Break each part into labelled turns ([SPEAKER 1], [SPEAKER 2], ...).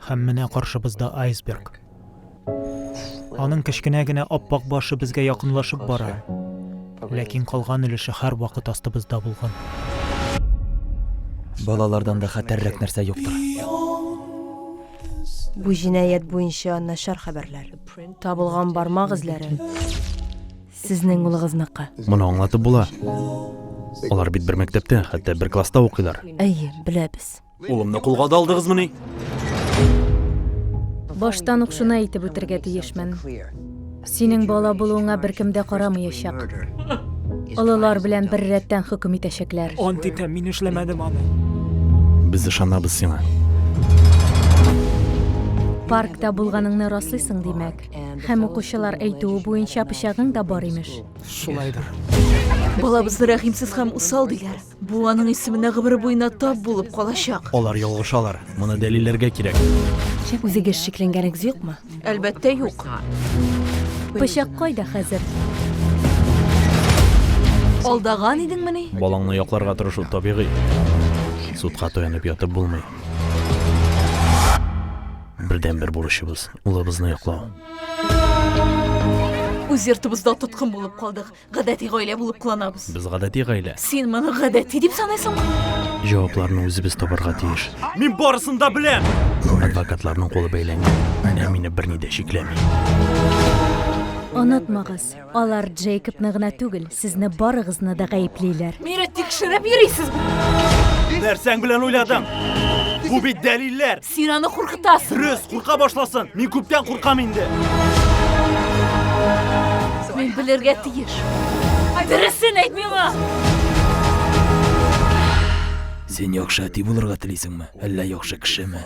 [SPEAKER 1] Һәм менә каршыбызда айсберг. Аның кечкенә генә аппак башы безгә якынлашып бара. Ләкин калган өлеше һәр вакыт астыбызда булган.
[SPEAKER 2] Балалардан да хәтәррәк нәрсә юктыр.
[SPEAKER 3] Бу җинаять буенча начар хәбәрләр. Табылган бармак эзләре Сезнең улыгызныкы. Моны аңлатып була.
[SPEAKER 4] Алар бит бер мәктәптә, хәтта бер класста укыйлар. Әйе, беләбез.
[SPEAKER 3] Улымны кулга да
[SPEAKER 4] алдыгызмыни?
[SPEAKER 5] Баштан ук шуны әйтеп үтергә тиешмен. Синең бала булуыңа беркем дә карамыячак. Олылар белән бер рәттән хөкем итәчәкләр. Ант итәм, мин
[SPEAKER 1] эшләмәдем аны. Без
[SPEAKER 4] ышанабыз сиңа.
[SPEAKER 5] Паркта булганыңны раслыйсың, димәк. Һәм укучылар әйтүе буенча пычагың да бар имеш. Шулайдыр.
[SPEAKER 1] Балабызны
[SPEAKER 6] рәхимсез һәм усал диләр. Бу аның исеменә гомере буена тап булып калачак. Алар ялгышалар.
[SPEAKER 4] Моны дәлилләргә кирәк. Үзегез
[SPEAKER 3] шикләнгәнегез юкмы? Әлбәттә, юк.
[SPEAKER 5] Пычак кайда хәзер?
[SPEAKER 6] Алдаган идеңмени? Балаңны якларга тырышу
[SPEAKER 4] табигый. Судка таянып ятып булмый. Бердәнбер бурычыбыз. улыбызны яклау.
[SPEAKER 6] Үз йортыбызда тоткын булып калдык. Гадәти гаилә булып кыланабыз. Без гадәти гаилә.
[SPEAKER 4] Син моны гадәти
[SPEAKER 6] дип саныйсыңмы? Җавапларны
[SPEAKER 4] үзебез табарга тиеш. Мин барысын да беләм. Адвокатларның кулы бәйләнгән. Ә мине берни дә шикләми.
[SPEAKER 5] Онытмагыз, алар Джейкобны гына түгел, сезне барыгызны да гаеплиләр. Мине тикшереп
[SPEAKER 6] йөрисез. Нәрсәң
[SPEAKER 4] белән уйладың? Бу бит дәлилләр. Син аны куркытасың.
[SPEAKER 6] Дөрес, курка башласын.
[SPEAKER 4] Мин күптән куркам инде.
[SPEAKER 6] Мин белергә тиеш. Дөресен әйт миңа.
[SPEAKER 2] Син яхшы әти булырга телисеңме, әллә яхшы кешеме?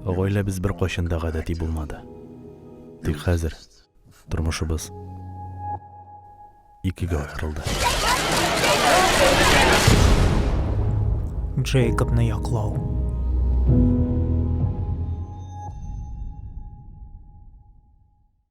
[SPEAKER 4] Гаиләбез беркайчан да гадәти булмады. Тик хәзер Тормышыбыз икегә аерылды.
[SPEAKER 1] Джейкобны яклау.